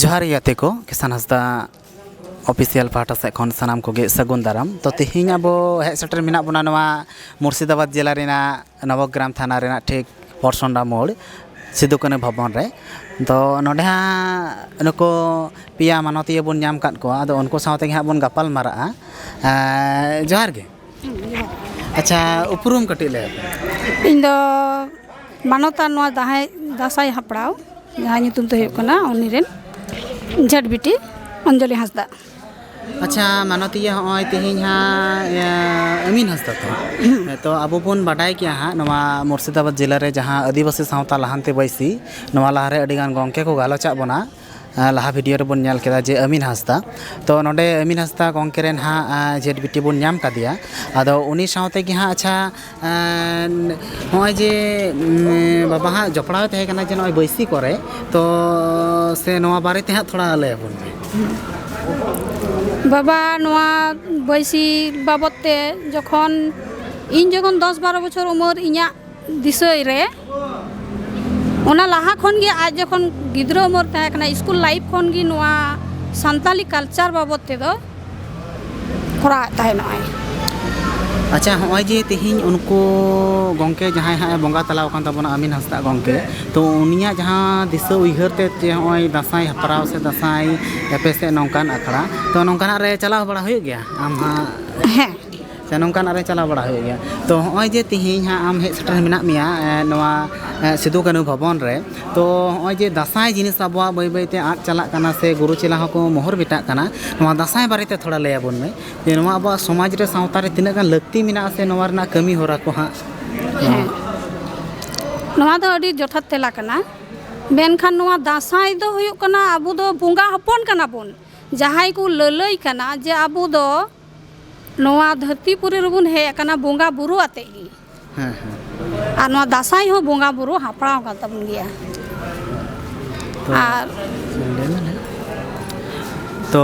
ᱡᱚᱦᱟᱨ ᱜᱮ ᱜᱟᱛᱮ ᱠᱚ ᱠᱤᱥᱟᱱ ᱦᱟᱸᱥᱫᱟ ᱚᱯᱷᱤᱥᱤᱭᱟᱞ ᱯᱟᱦᱴᱟ ᱥᱮᱫ ᱠᱷᱚᱱ ᱥᱟᱱᱟᱢ ᱠᱚᱜᱮ ᱥᱟᱹᱜᱩᱱ ᱫᱟᱨᱟᱢ ᱛᱚ ᱛᱮᱦᱮᱧ ᱟᱵᱚ ᱦᱮᱡ ᱥᱮᱴᱮᱨ ᱢᱮᱱᱟᱜ ᱵᱚᱱᱟ ᱱᱚᱣᱟ ᱢᱩᱨᱥᱤᱫᱟᱵᱟᱫᱽ ᱡᱮᱞᱟ ᱨᱮᱱᱟᱜ ᱱᱚᱵᱚᱜᱨᱟᱢ ᱛᱷᱟᱱᱟ ᱨᱮᱱᱟᱜ ᱴᱷᱤᱠ ᱯᱚᱨᱥᱚᱱᱰᱟ ᱢᱳᱲ ᱥᱤᱫᱩ ᱠᱟᱹᱱᱩ ᱵᱷᱚᱵᱚᱱ ᱨᱮ ᱛᱚ ᱱᱚᱰᱮ ᱦᱟᱸᱜ ᱱᱩᱠᱩ ᱯᱮᱭᱟ ᱢᱟᱱᱚᱛᱤᱭᱟᱹ ᱵᱚᱱ ᱧᱟᱢ ᱟᱠᱟᱫ ᱠᱚᱣᱟ ᱟᱫᱚ ᱩᱱᱠᱩ ᱥᱟᱶ ᱛᱮᱜᱮ ᱦᱟᱸᱜ ᱵᱚᱱ ᱜᱟᱯᱟᱞ ᱢᱟᱨᱟᱜᱼᱟ ᱡᱚᱦᱟᱨ ᱜᱮ ᱟᱪᱪᱷᱟ ᱩᱯᱨᱩᱢ ᱠᱟᱹᱴᱤᱡ ᱞᱟᱹᱭ ᱤᱧ ᱫᱚ ᱢᱟᱱᱚᱛᱟ ᱱᱚᱣᱟ ᱫᱟᱦᱟᱭ ᱫᱟᱸᱥᱟᱭ ᱦᱟᱯᱲᱟᱣ ᱡᱟᱦᱟᱸ ᱧᱩᱛᱩᱢ ᱛᱮ ᱦᱩᱭᱩᱜ ᱠᱟᱱᱟ ᱩᱱᱤ ᱨᱮᱱ ᱡᱷᱮᱴ ᱵᱤᱴᱤ ᱚᱧᱡᱚᱞᱤ ᱦᱟᱸᱥᱫᱟ ᱟᱪᱪᱷᱟ ᱢᱟᱱᱚᱛᱤᱭᱟᱹ ᱦᱚᱸᱜᱼᱚᱭ ᱛᱮᱦᱮᱧ ᱦᱟᱸᱜ ᱟᱹᱢᱤᱱ ᱦᱟᱸᱥᱫᱟ ᱛᱚ ᱛᱚ ᱟᱵᱚ ᱵᱚᱱ ᱵᱟᱰᱟᱭ ᱜᱮᱭᱟ ᱦᱟᱸᱜ ᱱᱚᱣᱟ ᱢᱩᱨᱥᱤᱫᱟᱵᱟᱫᱽ ᱡᱮᱞᱟ ᱨᱮ ᱡᱟᱦᱟᱸ ᱟᱹᱫᱤᱵᱟᱹᱥᱤ ᱥᱟᱶᱛᱟ ᱞᱟᱦᱟᱱᱛᱤ ᱵᱟᱹᱭᱥᱤ ᱱᱚᱣᱟ ᱞᱟᱦᱟ ᱨᱮ ᱟᱹᱰᱤ ᱜᱟᱱ ᱜᱚᱢᱠᱮ ᱠᱚ ᱜᱟᱞᱚᱪᱟᱜ ᱵᱚᱱᱟ ᱞᱟᱦᱟ ᱵᱷᱤᱰᱤᱭᱳ ᱨᱮᱵᱚᱱ ᱧᱮᱞ ᱠᱮᱫᱟ ᱡᱮ ᱟᱹᱢᱤᱱ ᱦᱟᱸᱥᱫᱟ ᱛᱚ ᱱᱚᱰᱮ ᱟᱹᱢᱤᱱ ᱦᱟᱸᱥᱫᱟ ᱜᱚᱢᱠᱮ ᱨᱮᱱ ᱦᱟᱸᱜ ᱡᱷᱮᱸᱴ ᱵᱤᱴᱤ ᱵᱚᱱ ᱧᱟᱢ ᱠᱟᱫᱮᱭᱟ ᱟᱫᱚ ᱩᱱᱤ ᱥᱟᱶᱛᱮ ᱜᱮ ᱦᱟᱸᱜ ᱟᱪᱪᱷᱟ ᱱᱚᱜᱼᱚᱭ ᱡᱮ ᱵᱟᱵᱟ ᱦᱟᱸᱜ ᱡᱚᱯᱲᱟᱣ ᱛᱟᱦᱮᱸ ᱠᱟᱱᱟ ᱡᱮ ᱱᱚᱜᱼᱚᱭ ᱵᱟᱹᱭᱥᱤ ᱠᱚᱨᱮ ᱛᱚ ᱥᱮ ᱱᱚᱣᱟ ᱵᱟᱨᱮ ᱛᱮ ᱦᱟᱸᱜ ᱛᱷᱚᱲᱟ ᱞᱟᱹᱭ ᱟᱵᱚᱱ ᱢᱮ ᱵᱟᱵᱟ ᱱᱚᱣᱟ ᱵᱟᱹᱭᱥᱤ ᱵᱟᱵᱚᱫ ᱛᱮ ᱡᱚᱠᱷᱚᱱ ᱤᱧ ᱡᱚᱠᱷᱚᱱ ᱫᱚᱥ ᱵᱟᱨᱚ ᱵᱚᱪᱷᱚᱨ ᱩᱢᱟᱹᱨ ᱤᱧᱟᱹᱜ ᱵᱤᱥᱚᱭ ᱨᱮ ᱚᱱᱟ ᱞᱟᱦᱟ ᱠᱷᱚᱱ ᱜᱮ ᱟᱡ ᱡᱚᱠᱷᱚᱱ ᱜᱤᱫᱽᱨᱟᱹ ᱩᱢᱮᱨ ᱛᱟᱦᱮᱸ ᱠᱟᱱᱟ ᱥᱠᱩᱞ ᱞᱟᱭᱤᱯᱷ ᱠᱷᱚᱱ ᱜᱮ ᱱᱚᱣᱟ ᱥᱟᱱᱛᱟᱞᱤ ᱠᱟᱞᱪᱟᱨ ᱵᱟᱵᱚᱫ ᱛᱮᱫᱚ ᱠᱚᱨᱟᱣ ᱮᱫ ᱛᱟᱦᱮᱸ ᱱᱚᱜᱼᱟᱭ ᱟᱪᱪᱷᱟ ᱦᱚᱸᱜᱼᱚᱭ ᱡᱮ ᱛᱮᱦᱮᱧ ᱩᱱᱠᱩ ᱜᱚᱝᱠᱮ ᱡᱟᱦᱟᱸᱭ ᱦᱟᱸᱜ ᱵᱚᱸᱜᱟ ᱛᱟᱞᱟᱣ ᱟᱠᱟᱱ ᱛᱟᱵᱚᱱᱟ ᱟᱢᱤᱱ ᱦᱟᱸᱥᱫᱟ ᱜᱚᱝᱠᱮ ᱛᱚ ᱩᱱᱤᱭᱟᱜ ᱡᱟᱦᱟᱸ ᱫᱤᱥᱟᱹ ᱩᱭᱦᱟᱹᱨ ᱛᱮ ᱡᱮ ᱦᱚᱸᱜᱼᱚᱭ ᱫᱟᱸᱥᱟᱭ ᱦᱮᱯᱨᱟᱣ ᱥᱮ ᱫᱟᱸᱥᱟᱭ ᱮᱯᱮᱥᱮᱫ ᱱᱚᱝᱠᱟᱱ ᱟᱠᱷᱲᱟ ᱛᱚ ᱱᱚᱝᱠᱟᱱᱟᱜ ᱨᱮ ᱪᱟᱞᱟᱣ ᱵᱟᱲᱟ ᱦᱩᱭᱩᱜ ᱜᱮᱭᱟ ᱟᱢ ᱦᱟᱸᱜ ᱦᱮᱸ ᱥᱮ ᱱᱚᱝᱠᱟᱱᱟᱜ ᱨᱮ ᱪᱟᱞᱟᱣ ᱵᱟᱲᱟ ᱦᱩᱭᱩᱜ ᱜᱮᱭᱟ ᱛᱚ ᱦᱚᱸᱜᱼᱚᱭ ᱡᱮ ᱛᱤᱦᱤᱧ ᱦᱟᱸᱜ ᱟᱢ ᱦᱮᱡ ᱥᱮᱴᱮᱨ ᱢᱮᱱᱟᱜ ᱢᱮᱭᱟ ᱱᱚᱣᱟ ᱥᱤᱫᱩ ᱠᱟᱹᱱᱩ ᱵᱷᱚᱵᱚᱱ ᱨᱮ ᱛᱚ ᱦᱚᱸᱜᱼᱚᱭ ᱡᱮ ᱫᱟᱸᱥᱟᱭ ᱡᱤᱱᱤᱥ ᱟᱵᱚᱣᱟᱜ ᱵᱟᱹᱭ ᱵᱟᱹᱭᱛᱮ ᱟᱫ ᱪᱟᱞᱟᱜ ᱠᱟᱱᱟ ᱥᱮ ᱜᱩᱨᱩ ᱪᱮᱞᱟ ᱦᱚᱸᱠᱚ ᱢᱚᱦᱚᱨ ᱢᱮᱴᱟᱜ ᱠᱟᱱᱟ ᱱᱚᱣᱟ ᱫᱟᱸᱥᱟᱭ ᱵᱟᱨᱮᱛᱮ ᱛᱷᱚᱲᱟ ᱞᱟᱹᱭ ᱟᱵᱚᱱ ᱢᱮ ᱡᱮ ᱱᱚᱣᱟ ᱟᱵᱚᱣᱟᱜ ᱥᱚᱢᱟᱡᱽ ᱨᱮ ᱥᱟᱶᱛᱟ ᱨᱮ ᱛᱤᱱᱟᱹᱜ ᱜᱟᱱ ᱞᱟᱹᱠᱛᱤ ᱢᱮᱱᱟᱜᱼᱟ ᱥᱮ ᱱᱚᱣᱟ ᱨᱮᱱᱟᱜ ᱠᱟᱹᱢᱤ ᱦᱚᱨᱟ ᱠᱚ ᱦᱟᱸᱜ ᱦᱮᱸ ᱱᱚᱣᱟ ᱫᱚ ᱟᱹᱰᱤ ᱡᱚᱛᱷᱟᱛ ᱛᱮᱞᱟ ᱠᱟᱱᱟ ᱢᱮᱱᱠᱷᱟᱱ ᱱᱚᱣᱟ ᱫᱟᱸᱥᱟᱭ ᱫᱚ ᱦᱩᱭᱩᱜ ᱠᱟᱱᱟ ᱟᱵᱚ ᱫᱚ ᱵᱚᱸᱜᱟ ᱦᱚᱯᱚᱱ ᱠᱟᱱᱟ ᱵᱚᱱ ᱡᱟᱦᱟᱸᱭ ᱠᱚ ᱞᱟᱹᱞᱟᱹᱭ ᱠᱟᱱᱟ ᱡᱮ ᱟᱵᱚ ᱫᱚ ᱱᱚᱣᱟ ᱫᱷᱟᱹᱨᱛᱤ ᱯᱩᱨᱤ ᱨᱮᱵᱚᱱ ᱦᱮᱡ ᱟᱠᱟᱱᱟ ᱵᱚᱸᱜᱟ ᱵᱩᱨᱩ ᱟᱛᱮ ᱜᱮ ᱦᱮᱸ ᱦᱮᱸ ᱟᱨ ᱱᱚᱣᱟ ᱫᱟᱸᱥᱟᱭ ᱦᱚᱸ ᱵᱚᱸᱜᱟ ᱵᱩᱨᱩ ᱦᱟᱯᱲᱟᱣ ᱠᱟᱱ ᱛᱟᱵᱚᱱ ᱜᱮᱭᱟ ᱛᱚ ᱟᱨ ᱛᱚ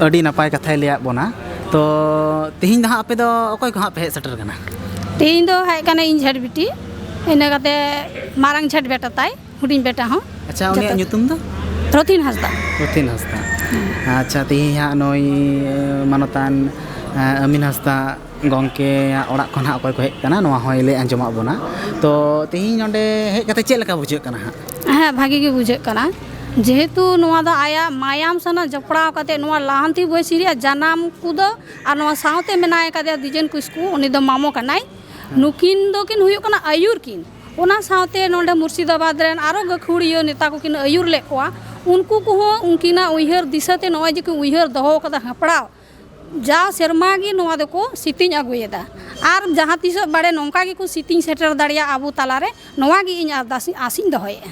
ᱟᱹᱰᱤ ᱱᱟᱯᱟᱭ ᱠᱟᱛᱷᱟᱭ ᱞᱟᱹᱭᱟᱫ ᱵᱚᱱᱟ ᱛᱚ ᱛᱮᱦᱮᱧ ᱫᱚ ᱦᱟᱸᱜ ᱟᱯᱮ ᱫᱚ ᱚᱠᱚᱭ ᱠᱚ ᱦᱟᱸᱜ ᱯᱮ ᱦᱮᱡ ᱥᱮᱴᱮᱨ ᱠᱟᱱᱟ ᱛᱮᱦᱮᱧ ᱫᱚ ᱦᱮᱡ ᱠᱟᱱᱟᱭ ᱤᱧ ᱡᱷᱮᱴ ᱵᱤᱴᱤ ᱤᱱᱟᱹ ᱠᱟᱛᱮ ᱢᱟᱨᱟᱝ ᱡᱷᱮᱴ ᱵᱮᱴᱟ ᱛᱟᱭ ᱦᱩᱰᱤᱧ ᱵᱮᱴᱟ ᱦᱚᱸ ᱟᱪᱪᱷᱟ ᱩᱱᱤᱭᱟᱜ ᱧᱩᱛᱩᱢ ᱫᱚ ᱨᱚᱛᱷᱤᱱ ᱦᱟᱸᱥᱫᱟ ᱨᱚᱛᱷᱤᱱ ᱦᱟᱸᱥᱫᱟ ᱟᱪᱪᱷᱟ ᱛᱮᱦᱮᱧ ᱦᱟᱸᱜ ᱱᱩᱭ ᱢᱟᱱᱚᱛᱟᱱ ᱟᱹᱢᱤᱱ ᱦᱟᱸᱥᱫᱟ ᱜᱚᱢᱠᱮᱭᱟᱜ ᱚᱲᱟᱜ ᱠᱷᱚᱱ ᱦᱟᱸᱜ ᱚᱠᱚᱭ ᱠᱚ ᱦᱮᱡ ᱟᱠᱟᱱᱟ ᱱᱚᱣᱟ ᱦᱚᱸᱭ ᱞᱟᱹᱭ ᱟᱸᱡᱚᱢᱟᱜ ᱵᱚᱱᱟ ᱛᱚ ᱛᱮᱦᱮᱧ ᱱᱚᱰᱮ ᱦᱮᱡ ᱠᱟᱛᱮ ᱪᱮᱫ ᱞᱮᱠᱟ ᱵᱩᱡᱷᱟᱹᱜ ᱠᱟᱱᱟ ᱦᱟᱸᱜ ᱦᱮᱸ ᱵᱷᱟᱹᱜᱤ ᱜᱮ ᱵᱩᱡᱷᱟᱹᱜ ᱠᱟᱱᱟ ᱡᱮᱦᱮᱛᱩ ᱱᱚᱣᱟ ᱫᱚ ᱟᱭᱟᱜ ᱢᱟᱭᱟᱢ ᱥᱟᱞᱟᱜ ᱡᱚᱯᱲᱟᱣ ᱠᱟᱛᱮ ᱱᱚᱣᱟ ᱞᱟᱦᱟᱱᱛᱤ ᱵᱚᱭᱮᱥ ᱨᱮᱭᱟᱜ ᱡᱟᱱᱟᱢ ᱠᱚᱫᱚ ᱟᱨ ᱱᱚᱣᱟ ᱥᱟᱶᱛᱮ ᱢᱮᱱᱟᱭ ᱠᱟᱫᱮᱭᱟ ᱫᱤᱡᱮᱱ ᱠᱤᱥᱠᱩ ᱩᱱᱤ ᱫᱚ ᱢᱟᱢᱚ ᱠᱟᱱᱟᱭ ᱱᱩᱠᱤᱱ ᱫᱚᱠᱤᱱ ᱦᱩᱭᱩᱜ ᱠᱟᱱᱟ ᱟᱹᱭᱩᱨ ᱠᱤᱱ ᱚᱱᱟ ᱥᱟᱶᱛᱮ ᱱᱚᱰᱮ ᱢᱩᱨᱥᱤᱫᱟᱵᱟᱫᱽ ᱨᱮᱱ ᱟᱨᱚ ᱜᱟᱹᱠᱷᱩᱲᱤᱭᱟᱹ ᱱᱮᱛᱟ ᱠᱚ ᱠᱤᱱ ᱟᱹᱭᱩᱨ ᱞᱮᱫ ᱠᱚᱣᱟ ᱩᱱᱠᱩ ᱠᱚᱦᱚᱸ ᱩᱱᱠᱤᱱᱟᱜ ᱩᱭᱦᱟᱹᱨ ᱫᱤᱥᱟᱹ ᱛᱮ ᱱᱚᱜᱼᱚᱭ ᱡᱮ ᱠᱤᱱ ᱩᱭᱦᱟᱹᱨ ᱫᱚᱦᱚ ᱟᱠᱟᱫᱟ ᱦᱮᱯᱨᱟᱣ ᱡᱟᱣ ᱥᱮᱨᱢᱟ ᱜᱮ ᱱᱚᱣᱟ ᱫᱚᱠᱚ ᱥᱤᱛᱤᱝ ᱟᱹᱜᱩᱭᱮᱫᱟ ᱟᱨ ᱡᱟᱦᱟᱸ ᱛᱤᱥᱚᱜ ᱵᱟᱲᱮ ᱱᱚᱝᱠᱟ ᱜᱮᱠᱚ ᱥᱤᱛᱤᱝ ᱥᱮᱴᱮᱨ ᱫᱟᱲᱮᱭᱟᱜ ᱟᱵᱚ ᱛᱟᱞᱟ ᱨᱮ ᱱᱚᱣᱟ ᱜᱮ ᱤᱧ ᱟᱨᱫᱟᱥ ᱤᱧ ᱟᱥ ᱤᱧ ᱫᱚᱦᱚᱭᱮᱫᱼᱟ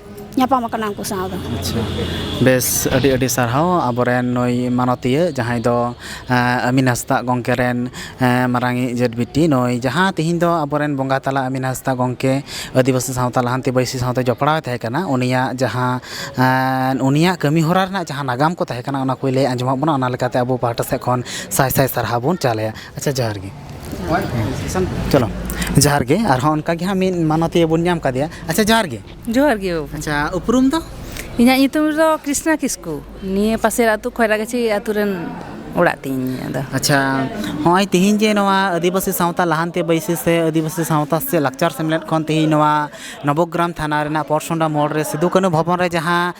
ᱧᱟᱯᱟᱢ ᱟᱠᱟᱱᱟ ᱩᱱᱠᱩ ᱥᱟᱶ ᱫᱚ ᱟᱪᱪᱷᱟ ᱵᱮᱥ ᱟᱹᱰᱤ ᱟᱹᱰᱤ ᱥᱟᱨᱦᱟᱣ ᱟᱵᱚᱨᱮᱱ ᱱᱩᱭ ᱢᱟᱱᱚᱛᱤᱭᱟᱹ ᱡᱟᱦᱟᱸᱭ ᱫᱚ ᱟᱹᱢᱤᱱ ᱦᱟᱸᱥᱫᱟ ᱜᱚᱢᱠᱮ ᱨᱮᱱ ᱢᱟᱨᱟᱝ ᱤᱡ ᱡᱮᱴ ᱵᱤᱴᱤ ᱱᱩᱭ ᱡᱟᱦᱟᱸ ᱛᱮᱦᱮᱧ ᱫᱚ ᱟᱵᱚᱨᱮᱱ ᱵᱚᱸᱜᱟ ᱛᱟᱞᱟ ᱟᱹᱢᱤᱱ ᱦᱟᱸᱥᱫᱟ ᱜᱚᱢᱠᱮ ᱟᱹᱫᱤᱵᱟᱹᱥᱤ ᱥᱟᱶᱛᱟ ᱞᱟᱦᱟᱱᱛᱤ ᱵᱟᱹᱭᱥᱤ ᱥᱟᱶᱛᱮ ᱡᱚᱯᱲᱟᱣ ᱮ ᱛᱟᱦᱮᱸ ᱠᱟᱱᱟ ᱩᱱᱤᱭᱟᱜ ᱡᱟᱦᱟᱸ ᱩᱱᱤᱭᱟᱜ ᱠᱟᱹᱢᱤ ᱦᱚᱨᱟ ᱨᱮᱱᱟᱜ ᱡᱟᱦᱟᱸ ᱱᱟᱜᱟᱢ ᱠᱚ ᱛᱟᱦᱮᱸ ᱠᱟᱱᱟ ᱚᱱᱟ ᱠᱚᱭ ᱞᱟᱹᱭ ᱟᱸᱡᱚᱢᱟᱜ ᱵᱚᱱᱟ ᱚᱱᱟ ᱞᱮᱠᱟᱛᱮ ᱟᱵᱚ ᱯᱟᱦᱴᱟ ᱥᱮᱫ ᱠᱷᱚᱱ ᱥᱟᱭ ᱥᱟᱭ ᱥᱟᱨᱦᱟᱣ ᱵᱚᱱ ᱪᱟᱞ ᱟᱭᱟ ᱟᱪᱪᱷᱟ ᱡᱚᱦᱟᱨ ᱜᱮ ᱪᱚᱞᱚ ᱡᱚᱦᱟᱨ ᱜᱮ ᱟᱨᱦᱚᱸ ᱚᱱᱠᱟ ᱜᱮ ᱦᱟᱸᱜ ᱢᱤᱫ ᱢᱟᱱᱚᱛᱤᱭᱟᱹ ᱵᱚᱱ ᱧᱟᱢ ᱠᱟᱫᱮᱭᱟ ᱟᱪᱪᱷᱟ ᱡᱚᱦᱟᱨ ᱜᱮ ᱡᱚᱦᱟᱨ ᱜᱮ ᱵᱟᱹᱵᱩ ᱟᱪᱪᱷᱟ ᱩᱯᱨᱩᱢ ᱫᱚ ᱤᱧᱟᱹᱜ ᱧᱩᱛᱩᱢ ᱫᱚ ᱠᱨᱤᱥᱱᱟ ᱠᱤᱥᱠᱩ ᱱᱤᱭᱟᱹ ᱯᱟᱥᱮᱨ ᱟᱹᱛᱩ ᱠᱷᱚᱭᱨᱟᱜᱟᱹᱪᱷᱤ ᱟᱹᱛᱩ ᱨᱮᱱ ᱚᱲᱟᱜ ᱛᱤᱧ ᱤᱧᱟᱹᱜ ᱫᱚ ᱟᱪᱪᱷᱟ ᱦᱚᱸᱜᱼᱚᱭ ᱛᱤᱦᱤᱧ ᱡᱮ ᱱᱚᱣᱟ ᱟᱹᱫᱤᱵᱟᱹᱥᱤ ᱥᱟᱶᱛᱟ ᱞᱟᱦᱟᱱᱛᱤ ᱵᱟᱹᱭᱥᱤ ᱥᱮ ᱟᱹᱫᱤᱵᱟᱹᱥᱤ ᱥᱟᱶᱛᱟ ᱥᱮ ᱞᱟᱠᱪᱟᱨ ᱥᱮᱢᱞᱮᱫ ᱠᱷᱚᱱ ᱛᱤᱦᱤᱧ ᱱᱚᱣᱟ ᱱᱚᱵᱚᱜᱨᱟᱢ ᱛᱷᱟᱱᱟ ᱨᱮᱱᱟᱜ ᱯᱚᱨᱥᱚᱱᱰᱟ ᱢᱳᱲ ᱨᱮ ᱥᱤᱫᱩ ᱠᱟᱹᱱᱦᱩ ᱵᱷᱚᱵᱚᱱ ᱨᱮ ᱡᱟᱦᱟᱸ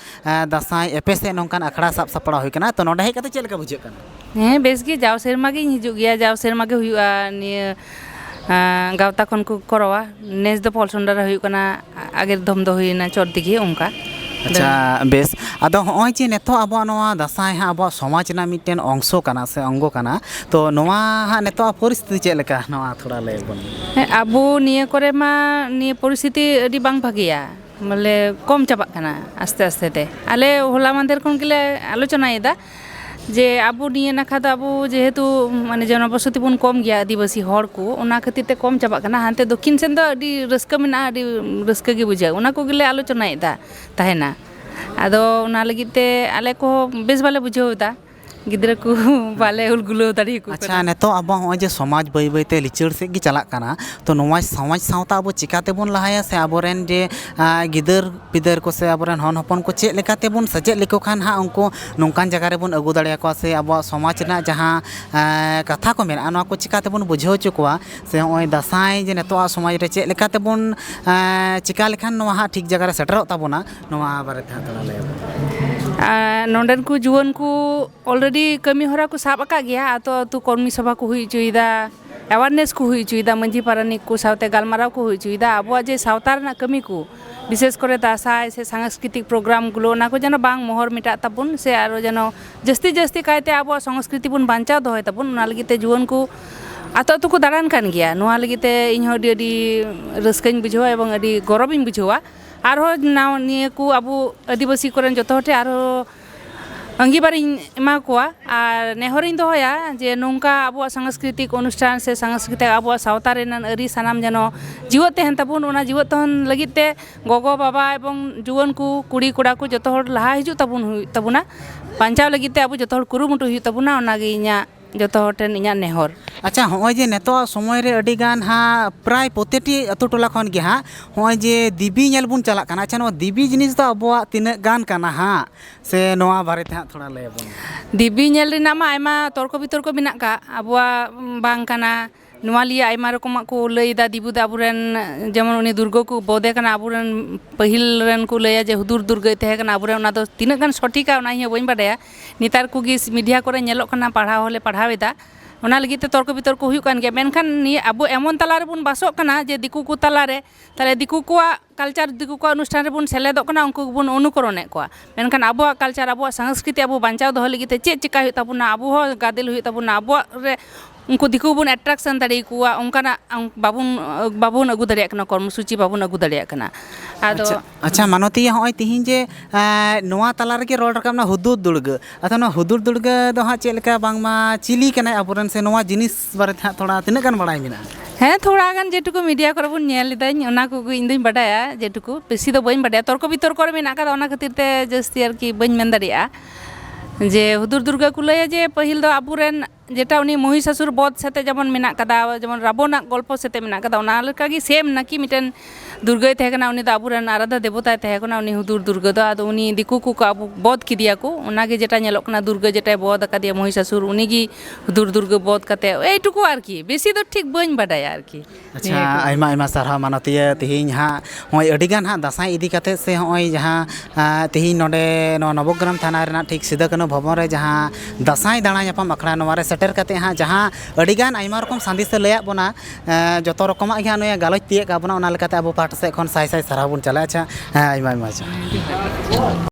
ᱫᱟᱸᱥᱟᱭ ᱮᱯᱮᱥᱮᱫ ᱱᱚᱝᱠᱟᱱ ᱟᱠᱷᱲᱟ ᱥᱟᱵ ᱥᱟᱯᱲᱟᱣ ᱦᱩᱭ ᱠᱟᱱᱟ ᱛᱚ ᱱᱚᱰᱮ ᱦᱮᱡ ᱠᱟᱛᱮᱫ ᱪᱮᱫ ᱞᱮᱠᱟ ᱵᱩᱡᱷᱟᱹᱜ ᱠᱟᱱᱟ ᱦᱮᱸ ᱵᱮᱥ ᱜᱮ ᱡᱟᱣ ᱥᱮᱨᱢᱟ ᱜᱤᱧ ᱦᱤᱡᱩᱜ ᱜᱮᱭᱟ ᱡᱟᱣ ᱥᱮᱨᱢᱟ ᱜᱮ ᱦᱩᱭᱩᱜᱼᱟ ᱱᱤᱭᱟᱹ ᱜᱟᱶᱛᱟ ᱠᱷᱚᱱ ᱠᱚ ᱠᱚᱨᱟᱣᱟ ᱱᱮᱥ ᱫᱚ ᱯᱚᱞᱥᱚᱱᱰᱟ ᱨᱮ ᱦᱩᱭᱩᱜ ᱠᱟᱱᱟ ᱟᱜᱮᱨ ᱫᱚᱢ ᱫᱚ ᱦᱩᱭᱱᱟ ᱪᱚᱴ ᱫᱤᱜᱷᱤ ᱚᱱᱠᱟ ᱟᱪᱪᱷᱟ ᱵᱮᱥ ᱟᱫᱚ ᱦᱚᱸᱜᱼᱚᱭ ᱡᱮ ᱱᱤᱛᱚᱜ ᱟᱵᱚᱣᱟᱜ ᱱᱚᱣᱟ ᱫᱟᱸᱥᱟᱭ ᱦᱟᱸᱜ ᱟᱵᱚᱣᱟᱜ ᱥᱚᱢᱟᱡᱽ ᱨᱮᱱᱟᱜ ᱢᱤᱫᱴᱮᱱ ᱚᱝᱥᱚ ᱠᱟᱱᱟ ᱥᱮ ᱚᱝᱜᱚ ᱠᱟᱱᱟ ᱛᱚ ᱱᱚᱣᱟ ᱦᱟᱸᱜ ᱱᱤᱛᱚᱜ ᱟᱜ ᱯᱚᱨᱤᱥᱛᱷᱤᱛᱤ ᱪᱮᱫ ᱞᱮᱠᱟ ᱱᱚᱣᱟ ᱛᱷᱚᱲᱟ ᱞᱟᱹᱭ ᱵᱚᱱ ᱢᱮ ᱦᱮᱸ ᱟᱵᱚ ᱱᱤᱭᱟᱹ ᱠᱚᱨᱮ ᱢᱟ ᱱᱤᱭᱟᱹ ᱯᱚᱨᱤᱥᱛᱷᱤᱛᱤ ᱟᱹᱰᱤ ᱵᱟᱝ ᱵᱷᱟᱹᱜᱤᱭᱟ ᱵᱚᱞᱮ ᱠᱚᱢ ᱪᱟᱵᱟᱜ ᱠᱟᱱᱟ ᱟᱥᱛᱮ ᱟᱥᱛᱮ ᱛᱮ ᱟᱞᱮ ᱦᱚᱞᱟ ᱢᱟᱦᱫᱮᱨ ᱠᱷᱚᱱ ᱜᱮᱞᱮ ᱟᱞᱳᱪᱚᱱᱟᱭᱮᱫᱟ ᱡᱮ ᱟᱵᱚ ᱱᱤᱭᱟᱹ ᱱᱟᱠᱷᱟ ᱫᱚ ᱟᱵᱚ ᱡᱮᱦᱮᱛᱩ ᱢᱟᱱᱮ ᱡᱚᱱᱚᱵᱚᱥᱚᱛᱤ ᱵᱚᱱ ᱠᱚᱢ ᱜᱮᱭᱟ ᱟᱹᱫᱤᱵᱟᱹᱥᱤ ᱦᱚᱲ ᱠᱚ ᱚᱱᱟ ᱠᱷᱟᱹᱛᱤᱨ ᱛᱮ ᱠᱚᱢ ᱪᱟᱵᱟᱜ ᱠᱟᱱᱟ ᱦᱟᱱᱛᱮ ᱫᱚᱠᱠᱷᱤᱱ ᱥᱮᱱ ᱫᱚ ᱟᱹᱰᱤ ᱨᱟᱹᱥᱠᱟᱹ ᱢᱮᱱᱟᱜᱼᱟ ᱟᱹᱰᱤ ᱨᱟᱹᱥᱠᱟᱹ ᱜᱮ ᱵᱩᱡᱷᱟᱹᱜᱼᱟ ᱚᱱᱟ ᱠᱚᱜᱮ ᱞᱮ ᱟᱞᱳᱪᱚᱱᱟᱭᱮᱫᱟ ᱛᱟᱦᱮᱱᱟ ᱟᱫᱚ ᱚᱱᱟ ᱞᱟᱹᱜᱤᱫ ᱛᱮ ᱟᱞᱮ ᱠᱚᱦᱚᱸ ᱵᱮᱥ ᱵᱟᱞᱮ ᱵᱩᱡᱷᱟᱹᱣᱮᱫᱟ ᱜᱤᱫᱽᱨᱟᱹ ᱠᱚ ᱵᱟᱞᱮ ᱦᱩᱞ ᱜᱩᱞᱟᱹᱣ ᱫᱟᱲᱮᱭᱟᱠᱚ ᱠᱟᱱᱟ ᱟᱪᱪᱷᱟ ᱱᱤᱛᱚᱜ ᱟᱵᱚᱣᱟᱜ ᱱᱚᱜᱼᱚᱭ ᱡᱮ ᱥᱚᱢᱟᱡᱽ ᱵᱟᱹᱭ ᱵᱟᱹᱭ ᱛᱮ ᱞᱤᱪᱟᱹᱲ ᱥᱮᱫ ᱜᱮ ᱪᱟᱞᱟᱜ ᱠᱟᱱᱟ ᱛᱚ ᱱᱚᱣᱟ ᱥᱚᱢᱟᱡᱽ ᱥᱟᱶᱛᱟ ᱟᱵᱚ ᱪᱤᱠᱟᱹ ᱛᱮᱵᱚᱱ ᱞᱟᱦᱟᱭᱟ ᱥᱮ ᱟᱵᱚ ᱨᱮᱱ ᱡᱮ ᱜᱤᱫᱟᱹᱨ ᱯᱤᱫᱟᱹᱨ ᱠᱚ ᱥᱮ ᱟᱵᱚᱨᱮᱱ ᱦᱚᱱ ᱦᱚᱯᱚᱱ ᱠᱚ ᱪᱮᱫ ᱞᱮᱠᱟ ᱛᱮᱵᱚᱱ ᱥᱮᱪᱮᱫ ᱞᱮᱠᱚ ᱠᱷᱟᱱ ᱦᱟᱸᱜ ᱩᱱᱠᱩ ᱱᱚᱝᱠᱟᱱ ᱡᱟᱭᱜᱟ ᱨᱮᱵᱚᱱ ᱟᱹᱜᱩ ᱫᱟᱲᱮᱭᱟᱠᱚᱣᱟ ᱥᱮ ᱟᱵᱚᱣᱟᱜ ᱥᱚᱢᱟᱡᱽ ᱨᱮᱱᱟᱜ ᱡᱟᱦᱟᱸ ᱠᱟᱛᱷᱟ ᱠᱚ ᱢᱮᱱᱟᱜᱼᱟ ᱱᱚᱣᱟ ᱠᱚ ᱪᱤᱠᱟᱹ ᱛᱮᱵᱚᱱ ᱵᱩᱡᱷᱟᱹᱣ ᱦᱚᱪᱚ ᱠᱚᱣᱟ ᱥᱮ ᱱᱚᱜᱼᱚᱭ ᱫᱟᱸᱥᱟᱭ ᱡᱮ ᱱᱤᱛᱚᱜ ᱟᱜ ᱥᱚᱢᱟᱡᱽ ᱨᱮ ᱪᱮᱫ ᱞᱮᱠᱟ ᱛᱮᱵᱚᱱ ᱪᱤᱠᱟᱹ ᱞᱮᱠᱷᱟᱱ ᱱᱚᱣᱟ ᱦᱟᱸᱜ ᱴᱷᱤᱠ ᱡᱟᱭᱜᱟ ᱨᱮ ᱥᱮᱴᱮᱨᱚᱜ ᱛᱟᱵᱚᱱᱟ ᱱᱚᱣᱟ ᱵᱟᱨᱮ ᱛᱮ ᱛᱷᱚᱲᱟ ᱞᱟᱹᱭ ᱢᱮ ᱱᱚᱰᱮᱱ ᱠᱚ ᱡᱩᱣᱟᱹᱱ ᱠᱚ ᱚᱞᱨᱮᱰᱤ ᱠᱟᱹᱢᱤ ᱦᱚᱨᱟ ᱠᱚ ᱥᱟᱵ ᱟᱠᱟᱫ ᱜᱮᱭᱟ ᱟᱹᱛᱩ ᱟᱹᱛᱩ ᱠᱚᱨᱢᱤ ᱥᱚᱵᱷᱟ ᱠᱚ ᱦᱩᱭ ᱦᱚᱪᱚᱭᱮᱫᱟ ᱮᱣᱟᱨᱱᱮᱥ ᱠᱚ ᱦᱩᱭ ᱦᱚᱪᱚᱭᱮᱫᱟ ᱢᱟᱹᱡᱷᱤ ᱯᱟᱨᱟᱱᱤᱠ ᱠᱚ ᱥᱟᱶᱛᱮ ᱜᱟᱞᱢᱟᱨᱟᱣ ᱠᱚ ᱦᱩᱭ ᱦᱚᱪᱚᱭᱮᱫᱟ ᱟᱵᱚᱣᱟᱜ ᱡᱮ ᱥᱟᱶᱛᱟ ᱨᱮᱱᱟᱜ ᱠᱟᱹᱢᱤ ᱠᱚ ᱵᱤᱥᱮᱥ ᱠᱚᱨᱮ ᱫᱟᱸᱥᱟᱭ ᱥᱮ ᱥᱟᱝᱥᱠᱨᱤᱛᱤᱠ ᱯᱨᱳᱜᱨᱟᱢ ᱜᱩᱞᱳ ᱚᱱᱟ ᱠᱚ ᱡᱮᱱᱚ ᱵᱟᱝ ᱢᱚᱦᱚᱨ ᱢᱮᱴᱟᱜ ᱛᱟᱵᱚᱱ ᱥᱮ ᱟᱨᱚ ᱡᱮᱱᱚ ᱡᱟᱹᱥᱛᱤ ᱡᱟᱹᱥᱛᱤ ᱠᱟᱭᱛᱮ ᱟᱵᱚᱣᱟᱜ ᱥᱚᱝᱥᱠᱨᱤᱛᱤ ᱵᱚᱱ ᱵᱟᱧᱪᱟᱣ ᱫᱚᱦᱚᱭ ᱛᱟᱵᱚᱱ ᱚᱱᱟ ᱞᱟᱹᱜᱤᱫ ᱛᱮ ᱡᱩᱣᱟᱹᱱ ᱠᱚ ᱟᱛᱳ ᱟᱛᱳ ᱠᱚ ᱫᱟᱬᱟᱱ ᱠᱟᱱ ᱜᱮᱭᱟ ᱱᱚᱣᱟ ᱞᱟᱹᱜᱤᱫ ᱛᱮ ᱤᱧ ᱦᱚᱸ ᱟᱹᱰᱤ ᱟᱹᱰᱤ ᱨᱟᱹᱥᱠᱟᱹᱧ ᱵᱩᱡᱷᱟᱹᱣᱟ ᱮᱵᱚᱝ ᱟᱹᱰᱤ ᱜᱚᱨᱚᱵᱤᱧ ᱵᱩᱡᱷᱟᱹᱣᱟ ᱟᱨᱦᱚᱸ ᱱᱟᱣᱟ ᱱᱤᱭᱟᱹ ᱠᱚ ᱟᱵᱚ ᱟᱹᱫᱤᱵᱟᱹᱥᱤ ᱠᱚᱨᱮᱱ ᱡᱚᱛᱚ ᱦᱚᱲ ᱴᱷᱮᱱ ᱟᱨᱦᱚᱸ ᱟᱺᱜᱤᱵᱟᱨᱤᱧ ᱮᱢᱟ ᱠᱚᱣᱟ ᱟᱨ ᱱᱮᱦᱚᱨᱤᱧ ᱫᱚᱦᱚᱭᱟ ᱡᱮ ᱱᱚᱝᱠᱟ ᱟᱵᱚᱣᱟᱜ ᱥᱟᱝᱥᱠᱨᱤᱛᱤᱠ ᱚᱱᱩᱥᱴᱷᱟᱱ ᱥᱮ ᱥᱟᱝᱥᱠᱨᱤᱛᱤᱠ ᱟᱵᱚᱣᱟᱜ ᱥᱟᱶᱛᱟ ᱨᱮᱱᱟᱜ ᱟᱹᱨᱤ ᱥᱟᱱᱟᱢ ᱡᱮᱱᱚ ᱡᱤᱣᱮᱫ ᱛᱟᱦᱮᱱ ᱛᱟᱵᱚᱱ ᱚᱱᱟ ᱡᱤᱣᱮᱫ ᱛᱟᱦᱮᱱ ᱞᱟᱹᱜᱤᱫ ᱛᱮ ᱜᱚᱜᱚ ᱵᱟᱵᱟ ᱮᱵᱚᱝ ᱡᱩᱣᱟᱹᱱ ᱠᱚ ᱠᱩᱲᱤ ᱠᱚᱲᱟ ᱠᱚ ᱡᱚᱛᱚ ᱦᱚᱲ ᱞᱟᱦᱟ ᱦᱤᱡᱩᱜ ᱛᱟᱵᱚᱱ ᱦᱩᱭᱩᱜ ᱛᱟᱵᱚᱱᱟ ᱵᱟᱧᱪᱟᱣ ᱞᱟᱹᱜᱤᱫ ᱛᱮ ᱟᱵᱚ ᱡᱚᱛᱚ ᱦᱚᱲ ᱠᱩᱨᱩᱢᱩᱴᱩᱭ ᱦᱩᱭᱩᱜ ᱛᱟᱵᱚᱱᱟ ᱚᱱᱟᱜᱮ ᱤᱧᱟᱹᱜ ᱡᱚᱛᱚ ᱦᱚᱲ ᱴᱷᱮᱱ ᱤᱧᱟᱹᱜ ᱱᱮᱦᱚᱨ ᱟᱪᱪᱷᱟ ᱦᱚᱸᱜᱼᱚᱭ ᱡᱮ ᱱᱤᱛᱚᱜ ᱥᱚᱢᱚᱭ ᱨᱮ ᱟᱹᱰᱤ ᱜᱟᱱ ᱦᱟᱸᱜ ᱯᱨᱟᱭ ᱯᱨᱚᱛᱤᱴᱤ ᱟᱹᱛᱩ ᱴᱚᱞᱟ ᱠᱷᱚᱱ ᱜᱮ ᱦᱟᱸᱜ ᱦᱚᱸᱜᱼᱚᱭ ᱡᱮ ᱫᱮᱵᱤ ᱧᱮᱞ ᱵᱚᱱ ᱪᱟᱞᱟᱜ ᱠᱟᱱᱟ ᱟᱪᱪᱷᱟ ᱱᱚᱣᱟ ᱫᱮᱵᱤ ᱡᱤᱱᱤᱥ ᱫᱚ ᱟᱵᱚᱣᱟᱜ ᱛᱤᱱᱟᱹᱜ ᱜᱟᱱ ᱠᱟᱱᱟ ᱦᱟᱸᱜ ᱥᱮ ᱱᱚᱣᱟ ᱵᱟᱨᱮ ᱛᱮ ᱦᱟᱸᱜ ᱛᱷᱚᱲᱟ ᱞᱟᱹᱭ ᱟᱵᱚᱱ ᱢᱮ ᱫᱮᱵᱤ ᱧᱮᱞ ᱨᱮᱱᱟᱜ ᱢᱟ ᱟᱭᱢᱟ ᱛᱚᱨᱠᱚ ᱵᱤᱛᱚᱨᱠᱚ ᱢᱮᱱᱟᱜ ᱠᱟᱜ ᱟᱵᱚᱣᱟᱜ ᱵᱟᱝ ᱠᱟᱱᱟ ᱱᱚᱣᱟ ᱞᱤᱭᱮ ᱟᱭᱢᱟ ᱨᱚᱠᱚᱢᱟᱜ ᱠᱚ ᱞᱟᱹᱭᱫᱟ ᱫᱤᱵᱩ ᱫᱚ ᱟᱵᱚ ᱨᱮᱱ ᱡᱮᱢᱚᱱ ᱩᱱᱤ ᱫᱩᱨᱜᱟᱹ ᱠᱚ ᱵᱚᱫᱮ ᱠᱟᱱᱟ ᱟᱵᱚ ᱨᱮᱱ ᱯᱟᱹᱦᱤᱞ ᱨᱮᱱ ᱠᱚ ᱞᱟᱹᱭᱟ ᱡᱮ ᱦᱩᱫᱩᱲ ᱫᱩᱨᱜᱟᱹᱭ ᱛᱟᱦᱮᱸ ᱠᱟᱱᱟ ᱟᱵᱚ ᱨᱮᱱ ᱚᱱᱟ ᱫᱚ ᱛᱤᱱᱟᱹᱜ ᱜᱟᱱ ᱥᱚᱴᱷᱤᱠᱟ ᱚᱱᱟ ᱤᱧ ᱦᱚᱸ ᱵᱟᱹᱧ ᱵᱟᱰᱟᱭᱟ ᱱᱮᱛᱟᱨ ᱠᱚᱜᱮ ᱢᱤᱰᱤᱭᱟ ᱠᱚᱨᱮ ᱧᱮᱞᱚᱜ ᱠᱟᱱᱟ ᱯᱟᱲᱦᱟᱣ ᱦᱚᱸᱞᱮ ᱯᱟᱲᱦᱟᱣ ᱮᱫᱟ ᱚᱱᱟ ᱞᱟᱹᱜᱤᱫ ᱛᱮ ᱛᱚᱨᱠᱚ ᱵᱤᱛᱚᱨᱠᱚ ᱦᱩᱭᱩᱜ ᱠᱟᱱ ᱜᱮᱭᱟ ᱢᱮᱱᱠᱷᱟᱱ ᱱᱤᱭᱟᱹ ᱟᱵᱚ ᱮᱢᱚᱱ ᱛᱟᱞᱟ ᱨᱮᱵᱚᱱ ᱵᱟᱥᱚᱜ ᱠᱟᱱᱟ ᱡᱮ ᱫᱤᱠᱩ ᱠᱚ ᱛᱟᱞᱟᱨᱮ ᱛᱟᱦᱚᱞᱮ ᱫᱤᱠᱩ ᱠᱚᱣᱟᱜ ᱠᱟᱞᱪᱟᱨ ᱫᱤᱠᱩ ᱠᱚᱣᱟᱜ ᱚᱱᱩᱥᱴᱷᱟᱱ ᱨᱮᱵᱚᱱ ᱥᱮᱞᱮᱫᱚᱜ ᱠᱟᱱᱟ ᱩᱱᱠᱩ ᱜᱮᱵᱚᱱ ᱚᱱᱩᱠᱚᱨᱚᱱᱮᱫ ᱠᱚᱣᱟ ᱢᱮᱱᱠᱷᱟᱱ ᱟᱵᱚᱣᱟᱜ ᱠᱟᱞᱪᱟᱨ ᱟᱵᱚᱣᱟᱜ ᱥᱟᱝᱥᱠᱨᱤᱛᱤ ᱟᱵᱚ ᱵᱟᱧᱪᱟᱣ ᱫᱚᱦᱚ ᱞᱟᱹᱜᱤᱫ ᱛᱮ ᱪᱮᱫ ᱪᱤᱠᱟᱹᱭ ᱦᱩᱭᱩᱜ ᱛᱟᱵᱚᱱᱟ ᱟᱵᱚ ᱦᱚᱸ ᱜᱟᱫᱮᱞ ᱦᱩᱭᱩᱜ ᱛᱟᱵᱚᱱᱟ ᱟᱵᱚᱣᱟᱜ ᱨᱮ ᱩᱱᱠᱩ ᱫᱤᱠᱩ ᱵᱚᱱ ᱮᱴᱨᱟᱠᱥᱮᱱ ᱫᱟᱲᱮ ᱟᱠᱚᱣᱟ ᱚᱱᱠᱟᱱᱟᱜ ᱵᱟᱵᱚᱱ ᱵᱟᱵᱚᱱ ᱟᱹᱜᱩ ᱫᱟᱲᱮᱭᱟᱜ ᱠᱟᱱᱟ ᱠᱚᱨᱢᱚ ᱥᱩᱪᱤ ᱵᱟᱵᱚᱱ ᱟᱹᱜᱩ ᱫᱟᱲᱮᱭᱟᱜ ᱠᱟᱱᱟ ᱟᱫᱚ ᱟᱪᱪᱷᱟ ᱢᱟᱱᱚᱛᱤ ᱱᱚᱜᱼᱚᱭ ᱛᱤᱦᱤᱧ ᱡᱮ ᱱᱚᱣᱟ ᱛᱟᱞᱟ ᱨᱮᱜᱮ ᱨᱚᱲ ᱨᱟᱠᱟᱵ ᱮᱱᱟ ᱦᱩᱫᱩᱲ ᱫᱩᱨᱜᱟᱹ ᱟᱫᱚ ᱱᱚᱣᱟ ᱦᱩᱫᱩᱲ ᱫᱩᱨᱜᱟᱹ ᱫᱚ ᱦᱟᱸᱜ ᱪᱮᱫ ᱞᱮᱠᱟ ᱵᱟᱝᱢᱟ ᱪᱤᱞᱤ ᱠᱟᱱᱟᱭ ᱟᱵᱚᱨᱮᱱ ᱥᱮ ᱱᱚᱣᱟ ᱡᱤᱱᱤᱥ ᱵᱟᱨᱮ ᱛᱮ ᱦᱟᱸᱜ ᱛᱷᱚᱲᱟ ᱛᱤᱱᱟᱹᱜ ᱜᱟᱱ ᱵᱟᱲᱟᱭ ᱢᱮᱱᱟᱜᱼᱟ ᱦᱮᱸ ᱛᱷᱚᱲᱟ ᱜᱟᱱ ᱡᱮᱴᱩᱠᱩ ᱢᱤᱰᱤᱭᱟ ᱠᱚᱨᱮ ᱵᱚᱱ ᱧᱮᱞ ᱞᱮᱫᱟᱹᱧ ᱚᱱᱟ ᱠᱚᱜᱮ ᱤᱧ ᱫᱚᱧ ᱵᱟᱰᱟᱭᱟ ᱡᱮᱴᱩᱠᱩ ᱵᱮᱥᱤ ᱫᱚ ᱵᱟᱹᱧ ᱵᱟᱰᱟᱭᱟ ᱛᱚᱨᱠᱚ ᱵᱤᱛᱚᱨᱠᱚ ᱨᱮ ᱢᱮᱱᱟᱜ ᱠᱟᱫᱟ ᱚᱱᱟ ᱠᱷᱟᱹᱛᱤᱨ ᱛᱮ ᱡᱟᱹᱥᱛᱤ ᱟᱨᱠᱤ ᱵᱟᱹᱧ ᱢᱮᱱ ᱫᱟᱲᱮᱭᱟᱜᱼᱟ ᱡᱮ ᱦᱩᱫᱩᱲ ᱫᱩᱨᱜᱟᱹ ᱠᱚ ᱞᱟᱹᱭᱟ ᱡᱮ ᱯᱟᱹᱦᱤᱞ ᱫᱚ ᱟᱵᱚ ᱨᱮᱱ ᱡᱮᱴᱟ ᱩᱱᱤ ᱢᱚᱦᱤᱥᱟᱥᱩᱨ ᱵᱚᱫᱷ ᱥᱟᱛᱮᱜ ᱡᱮᱢᱚᱱ ᱢᱮᱱᱟᱜ ᱠᱟᱫᱟ ᱡᱮᱢᱚᱱ ᱨᱟᱵᱚᱱᱟᱜ ᱜᱚᱞᱯᱚ ᱥᱟᱛᱮᱜ ᱢᱮᱱᱟᱜ ᱠᱟᱫᱟ ᱚᱱᱟ ᱞᱮᱠᱟᱜᱮ ᱥᱮᱢ ᱱᱟᱹᱠᱤ ᱢᱤᱫᱴᱮᱱ ᱫᱩᱨᱜᱟᱹᱭ ᱛᱟᱦᱮᱸ ᱠᱟᱱᱟ ᱩᱱᱤ ᱫᱚ ᱟᱵᱚ ᱨᱮᱱ ᱟᱨᱟᱫᱷᱟ ᱫᱮᱵᱚᱛᱟᱭ ᱛᱟᱦᱮᱸ ᱠᱟᱱᱟ ᱩᱱᱤ ᱦᱩᱫᱩᱲ ᱫᱩᱨᱜᱟᱹ ᱫᱚ ᱟᱫᱚ ᱩᱱᱤ ᱫᱤᱠᱩ ᱠᱚᱠᱚ ᱟᱵᱚ ᱵᱚᱫᱷ ᱠᱮᱫᱮᱭᱟ ᱠᱚ ᱚᱱᱟ ᱜᱮ ᱡᱮᱴᱟ ᱧᱮᱞᱚᱜ ᱠᱟᱱᱟ ᱫᱩᱨᱜᱟᱹ ᱡᱮᱴᱟᱭ ᱵᱚᱫᱷ ᱟᱠᱟᱫᱮᱭᱟ ᱢᱚᱦᱤᱥᱟᱥᱩᱨ ᱩᱱᱤ ᱜᱮ ᱦᱩᱫᱩᱲ ᱫᱩᱨᱜᱟᱹ ᱵᱚᱫᱷ ᱠᱟᱛᱮ ᱮᱭ ᱴᱩᱠᱩ ᱟᱨᱠᱤ ᱵᱮᱥᱤ ᱫᱚ ᱴᱷᱤᱠ ᱵᱟᱹᱧ ᱵᱟᱰᱟᱭᱟ ᱟᱨᱠᱤ ᱟᱪᱪᱷᱟ ᱟᱭᱢᱟ ᱟᱭᱢᱟ ᱥᱟᱨᱦᱟᱣ ᱢᱟᱱᱚᱛᱤᱭᱟᱹ ᱛᱮᱦᱮᱧ ᱦᱟᱸᱜ ᱱᱚᱜᱼᱚᱭ ᱟᱹᱰᱤ ᱜᱟᱱ ᱦᱟᱸᱜ ᱫᱟᱸᱥᱟᱭ ᱤᱫᱤ ᱠᱟᱛᱮ ᱥᱮ ᱱᱚᱜᱼᱚᱭ ᱡᱟᱦᱟᱸ ᱛᱮᱦᱮᱧ ᱱᱚᱰᱮ ᱱᱚᱣᱟ ᱱᱚᱵᱚᱜᱨᱟᱢ ᱛᱷᱟᱱᱟ ᱨᱮᱱᱟᱜ ᱴᱷᱤᱠ ᱥᱤᱫᱩ ᱠᱟᱹᱱᱦᱩ ᱵᱷᱚᱵᱚᱱ ᱨᱮ ᱡᱟᱦᱟᱸ ᱫᱟᱸᱥᱟᱭ ᱫᱟᱬᱟ ᱧᱟᱯᱟᱢ ᱟᱠᱷᱲᱟ ᱱᱚᱣᱟ ᱨᱮ ᱥᱮᱴᱮᱨ ᱠᱟᱛᱮ ᱦᱟᱸᱜ ᱡᱟᱦᱟᱸ ᱟᱹᱰᱤ ᱜᱟᱱ ᱟᱭᱢᱟ ᱨᱚᱠᱚᱢ ᱥᱟᱸᱫᱮᱥᱮ ᱞᱟᱹᱭᱟᱫ ᱵᱚᱱᱟ ᱡᱚᱛᱚ ᱨᱚᱠᱚᱢᱟᱜ ᱜᱮ ᱱᱩᱭᱮ ᱜᱟᱞᱚᱪ ᱛᱤᱭᱟᱹᱜ ᱠᱟᱜ ᱵᱚᱱᱟ ᱚᱱᱟ ᱞᱮᱠᱟᱛᱮ ᱟᱵᱚ ᱯᱟᱦᱴᱟ ᱥᱮᱫ ᱠᱷᱚᱱ ᱥᱟᱭ ᱥᱟᱭ ᱥᱟᱨᱦᱟᱣ ᱵᱚᱱ ᱪᱟᱞᱟ ᱟᱪᱪᱷᱟ ᱦᱮᱸ ᱟᱭᱢᱟ ᱟᱭᱢᱟ ᱥᱟᱨᱦᱟᱣ